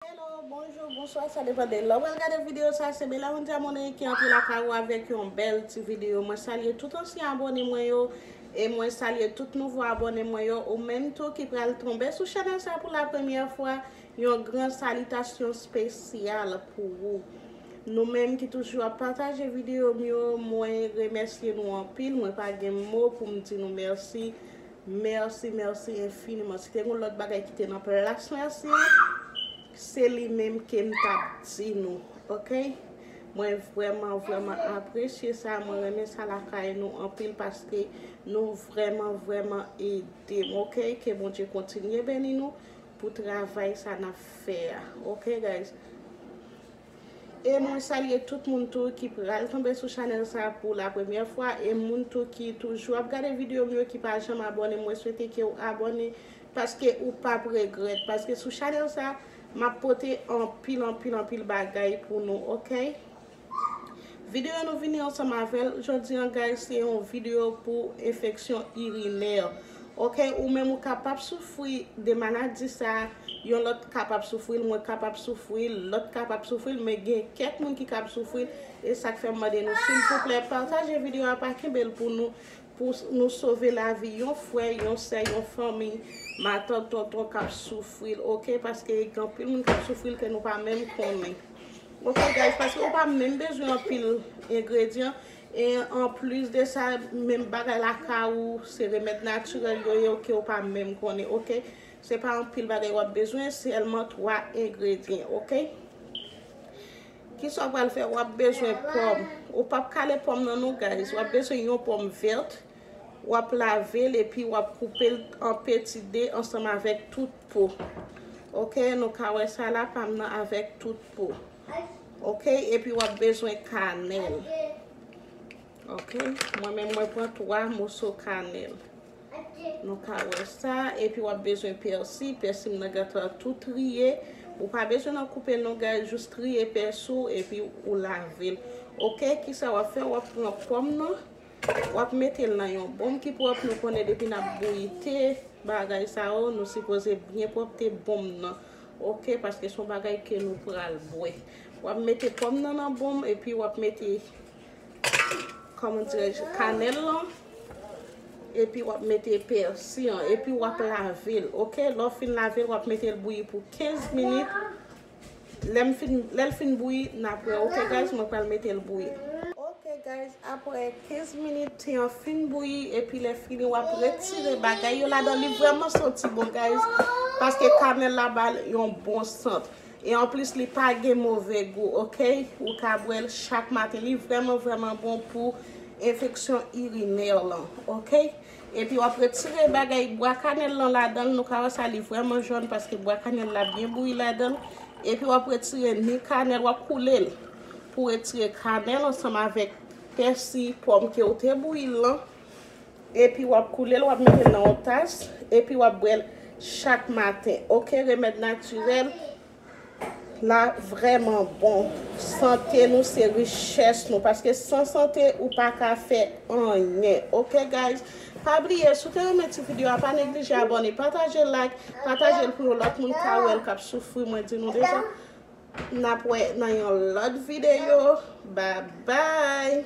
Hello, bonjour, bonsoir sa depan de lè wap gade video sa se Belaundy Amoney ki antre lakay ou avèk yon bèl ti video mwen salye tout ansyen abòne mwen yo e mwen salye tout nouvo abòne mwen yo ou menm tou ki pral tonbe sou chanèl sa pou la premyè fwa yon gran salitasyon spesyal pou ou nou menm ki toujou ap pataje video m yo mwen remèsye nou anpil mwen pa gen mo pou m di nou mèsi Merci merci infiniment si te gon lot bagay ki te nan plas merci an se li menm kem tap di nou ok mwen vreman vreman apresye sa mwen renmen sa lakay nou anpil paske nou vreman vreman edem ok ke bondye kontinye beni nou pou travay sa nap fè a ok guys. E mwen salye tout moun tou ki pral tonbe sou chanèl sa pou la premyè fwa e moun tou ki toujou ap gade videyo m yo ki pa janm abòne mwen swete ke ou abòne paske ou pap regrèt paske sou chanèl sa map pote anpil anpil anpil bagay pou nou ok. Videyo nou vini ansanm avèl jodi an guys se yon videyo pou enfeksyon irinè. Ok ou menm ou kapap soufri de maladi sa yon lòt kapab soufril mwen kapab soufril lòt kapab soufril men gen kèk moun ki kab soufril e sak fèm mande nou silvouplè pataje video a pa kenbel pou nou pou nou sove lavi yon frè yon sè yon fanmi matant tonton kap soufril ok paske gen anpil moun kap soufril ke nou pa menm konnen ok guys paske ou pa menm bezwen anpil engredyan E an plis de sa menm bagay lakay ou se remèd natirèl yo ye ok ou pa menm konnen ok se pa anpil bagay wap bezwen sèlman 3 engredyen ok kisa ou pral fè wap bezwen pòm ou pap kale pòm nan non guys wap bezwen yon pòm vèt wap lavel epi wap koupel an peti de ansanm avèk tout po ok nou ka wè sa la pam nan avèk tout po. Ok epi wap bezwen kanel. Ok mwen menm mwen pran 3 moso kanel. Nou ka wè sa epi wap bezwen pèsi. Pèsi m nan gentan tou triye. Ou pa bezwen nan koupe non guys jous triye pèsi ou epi ou lavel. Ok kisa wap fè wap pran pòm nan wap metel nan yon bon ki pwòp nou konnen depi nap bouyi te bagay sa yo nou sipoze byen pwòpte bon nan. Ok paske son bagay ke nou pral bwe. Wap mete pòm nan nan bonm epi wap mete kòman dirè je kanèl lan epi wap mete pèsi an epi wap lavel ok lè ou fin lavel wap metel bouyi pou 15 minit lèm fin lèl fin bouyi nap wè ok guys mwen pral metel bouyi ok guys aprè 15 minit te an fin bouyi epi lè fini wap retire bagay yo ladan li vrèman santi bon guys paske kanèl la bal yon bon sant e anplis li pa gen move gou ok ou ka bwèl chak maten li vrèman vrèman bon pou enfeksyon irinè lan ok epi wap retire bagay bwa kanèl lan ladan nou ka wè sa li vrèman jòn paske bwa kanèl la byen bouyi ladan epi wap retire ni kanèl wap koulel pou retire kanèl ansanm avèk Pèsi pòm kew te bouyil lan epi wap koulel wap metel nan yon tas epi wap bwèl chak maten ok remèd natirèl la vrèman bon sante nou se richès nou paske san sante ou paka fè anyen ok guys pa bliye si w te renmen ti video a pa neglije abòne patajel like patajel pou yon lòt moun ka wèl kap soufri mwen di nou deja. Nap wè nan yon lot video babay.